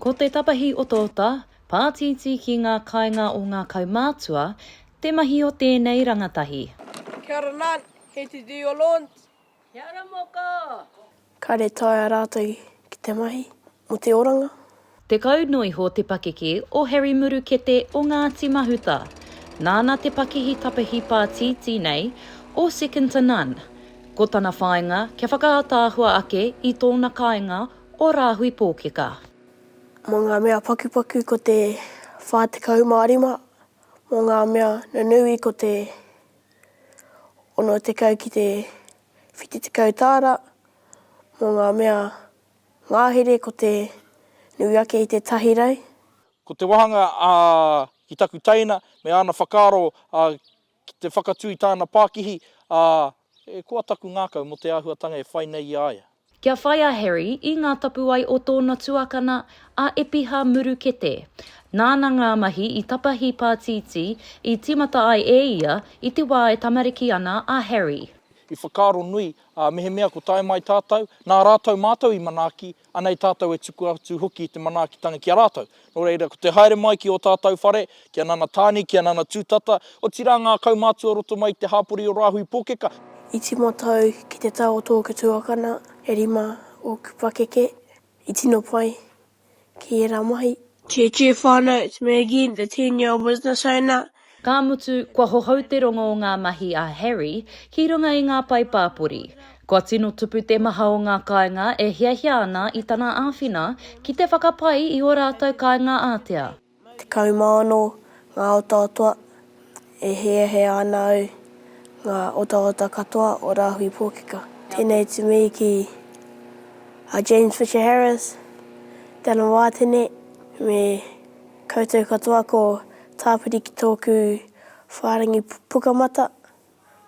Ko te tapahi otaota, pātītī ki ngā kāinga o ngā kaumātua, te mahi o tēnei rangatahi. Kia ora Nan, kei te Dior Lawns. Kia ora moko! Ka retaia rātou ki te mahi mō te oranga. Tekau noa iho te pakeke o Harry Murukete o Ngāti Mahuta. Nāna te pakihi tapahi pātītī nei o Second to None. Ko tana whāinga kia whakaataahua ake i tōna kāinga o Rāhui Pōkeka. Mō ngā mea pakupaku ko te 45, mō ngā mea nunui ko te 60 ki te 70 tāra, mō ngā mea Ngahere ko te nui ake i te tahi rau. Ko te wāhanga a ki taku teina me āna whakaaro ki te whakatū i tāna pākihi, e koa taku ngākau mō te āhuatanga e whai nei i a ia. Kia whai a Harry i ngā tapuwae o tōna tuakana a Epiha Murukete. Nāna ngā mahi i tapahi pātītī i tīmata ai e ia i te wā e tamariki ana a Harry. I whakaaro nui Ā, mehemea ko tae mai tātou, nā rātou mātou i manaaki, anei tātou e tuku atu hoki te manaakitanga ki a rātou. Nō reira, ko te haere mai ki ō tātou whare, ki a Nana Tāne, ki a Nana Tūtata, otirā ngā kaumātua roto mai i te hāpori o Rāhui Pōkeka, I timo tau ki te tau o tōku tuakana e rima ōku pakeke, i tino pai, ki ērā mahi. Che Che whānau, it's me again, the ten year old business owner. Ka mutu, kua hohou te rongo o ngā mahi a Harry ki runga i ngā pae pāpori. Kua tino tupu te maha o ngā kāinga e hiahia ana i tana āwhina ki te whakapai i ō rātou kāinga ātea. Kaumaono, ngā otaotoa, e hiahia ana au ngā otaota katoa o Rāhui Pōkeka. Tēnei to me ki a James Fisher Harris, Dallin Wātene, me koutou katoa ko Tāpiri ki tōku whārangi pukamata,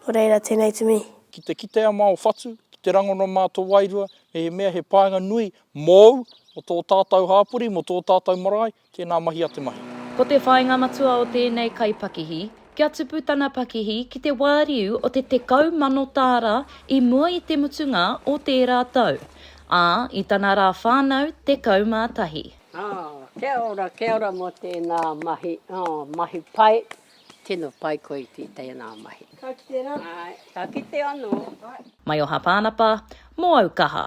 nō reira tēnei to me. Ki te kitea mā o whatu, ki te rangona mā tō wairua, mehemea he painga nui Mōu, mō tō tātou hāpori, mō tō tātou marae, tēnā mahi a te mahi. Ko te whāinga matua o tēnei kaipakihi, kia tupu tana pakihi ki te wāriu o te tekau mano tāra i mua i te mutunga o tērā tau, ā, i tana rā whānau tekau mā tahi. Kia ora, kia ora mō tēnā mahi, oh, mahi pai, tino pai koe i ki tēnā mahi. Ka kite rā? Āe, ka kite anō. Maioha Pānapa, mō au kaha.